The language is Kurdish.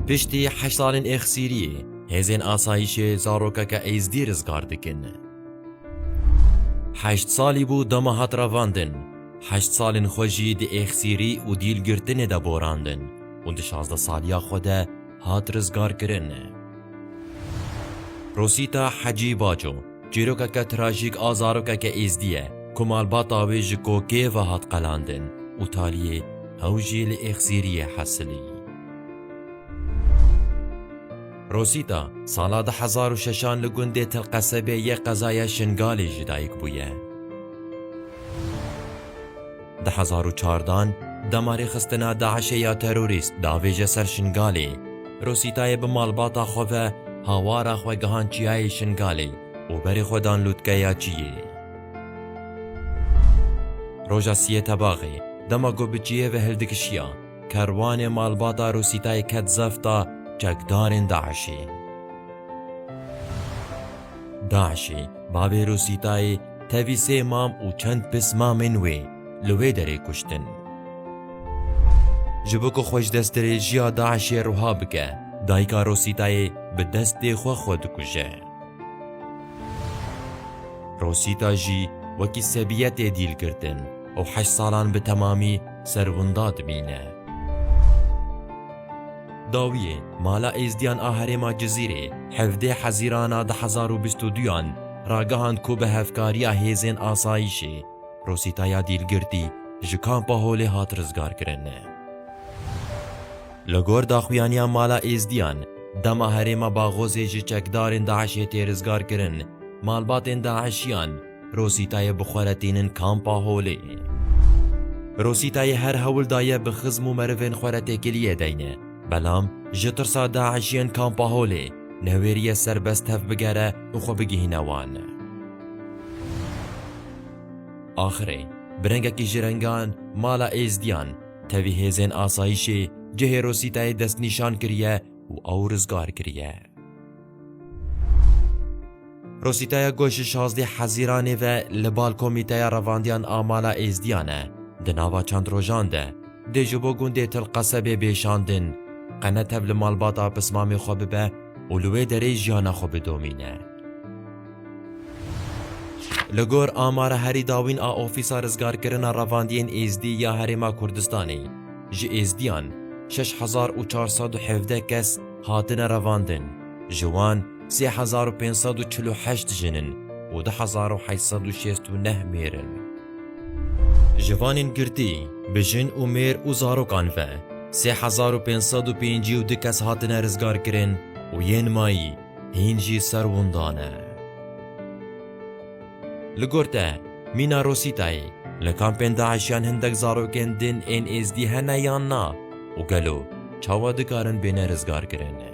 Piştî heşt salên êxsîriyê, hêzên asayîşê zarokeke Êzdî rizgar dikin. Heşt salî bû dema hat revandin, heşt salên xwe jî di êxsîrî û dîlgirtinê de borandin û di şazdeh saliya xwe de hat rizgarkirin. Rosîta Hecî Baco Çîrokeke trajîk a zarokeke êzdî ye ku malbata wê ji kokê ve hat qelandin û taliyê hew jî li êxzîriyê hesilî. Rosîta, sala du hezar û şeş an li gundê Tilqesebê yê qezaya Şingalê jî dayik bûye. Di hezar û çar dan damarê xistina DAIŞ'ê ya terorîst davêje ser Şingalê. Rosîtayê bi malbata xwe ve hawara xwe gihan çiyayê Şingalê û berê xwe dan lûtkeya çiyê. Roja siyê tebaxê, dema ku bi çiyê ve hildikişiya, kerwanê malbata Rosîtayê ket zefta çekdarên DAIŞ'ê. DAIŞ'ê bavê Rosîtayê, Tevî sê mam û çend pis mamên wê li wê derê kuştin. Ji bo ku xwe ji destdirêjiya DAIŞ'ê ruha bike, dayika Rosîtayê bi destê xwe xwe dikuje. Rosîta jî wekî Sebiye tê dîlgirtin û heşt salan bi temamî ser winda dimîne. Dawiyê, Mala Êzdiyan a herêma Cizîrê hevdeh Hezîrana du hezar û bîst û duyan ragihand ku bi hevkariya hêzên asayîşê Rosîta ya Dîlgirtî ji Kampa Holê hat rizgarkirin. Li gor daxuyaniya Mala Êzdiyan, dema herêma Baghozê ji çekdarên DAIŞ'ê tê rizgarkirin, malbatên DAIŞ'iyan, Rosîtayê bi xwe re tînin Kampa Holê. Rosîtayê her hewl daye bi xizm û merivên xwe re têkiliyê deyne, belam ji tirsa DAIŞ'iyên Kampa Holê newêriye serbest tev bigere û xwe bigihîne wan. Axirê bi rengekî ji rengan mala Êzdiyan, tevî hêzên asayîşê cihê Rosîtayê destnîşan kiriye û ew rizgar kiriye. Rosîtaya ku ji şazdî hezîranê ve li bal komîteya revandiyan a mala Êzdiyan e, di nava çend rojan de dê ji bo gundê Til Qesebê bê şandin, qene tev li malbata pismamê xwe bibe û li wê derê jiyana xwe bidomîne. Li gor amara herî dawîn a Ofîsa Rizgarkirina Revandiyên Êzdî ya Herêma Kurdistanê, ji Êzdiyan şeş hezar û çar sed û hevdeh kes, Hatine revandin, ji wan sê hezar û pênc sed û çil û heşt jin in û du hezar û heşt sed û şêst û neh mêr in. Ji vanên girtî, bi jin û mêr û zarokan ve, sê hezar û pênc sed û pêncî û du kes hatine rizgarkirin û yên mayî hîn jî ser winda ne. Li gor te, mîna Rosîtayê, li kampên DAIŞ'yan hindek zarokên din ên Êzdî hene yan na û gelo çawa dikarin bêne rizgarkirin?